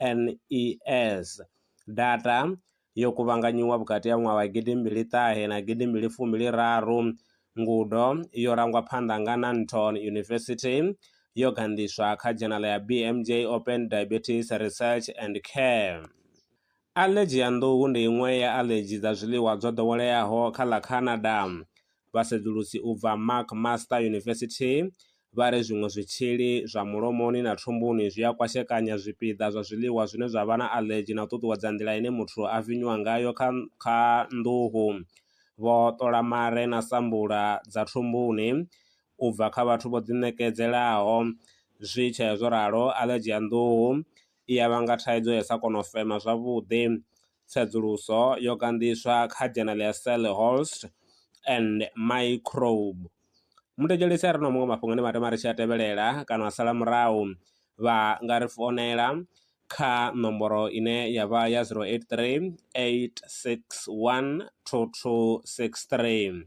NHANES, data yo kuvhanganyiwa vhukati ha ṅwaha wa gidi mbili ṱahe na gidi mbili fumi raru, ngudo yo rangwa phanḓa nga Nanton University yo ganḓiswa kha dzhenala ya BMJ Open Diabetes Research and Care. Aḽedzhi ya nḓuhu ndi iṅwe ya aḽedzhi dza zwiḽiwa dzo ḓoweleaho kha ḽa Canada. Vhasedzulusi u bva McMaster University vha ri zwiṅwe zwitzhili zwa mulomoni na thumbuni zwi a kwashekanya zwipiḓa zwa zwiḽiwa zwine zwa vha na aḽedzhi na u ṱuṱuwedza nḓila ine muthu a vinywa ngayo kha kha nḓuhu. Vho ṱola mare na sambula dza thumbuni u bva kha vhathu vho ḓiṋekedzelaho. Zwi tshee zwo ralo, aḽedzhi ya nḓuhu i ya vhanga thaidzo ya u sa kona u fema zwavhuḓi. Tsedzuluso yo ganḓiswa kha dzhenele ya Sellehost and Microbe. Muthetshelesi a re na muṅwe mafhungo ane vha tama ri tshi a tevhelela kana a sala murahu, vha nga ri founela kha nomboro ine ya vha ya 083 861 2263.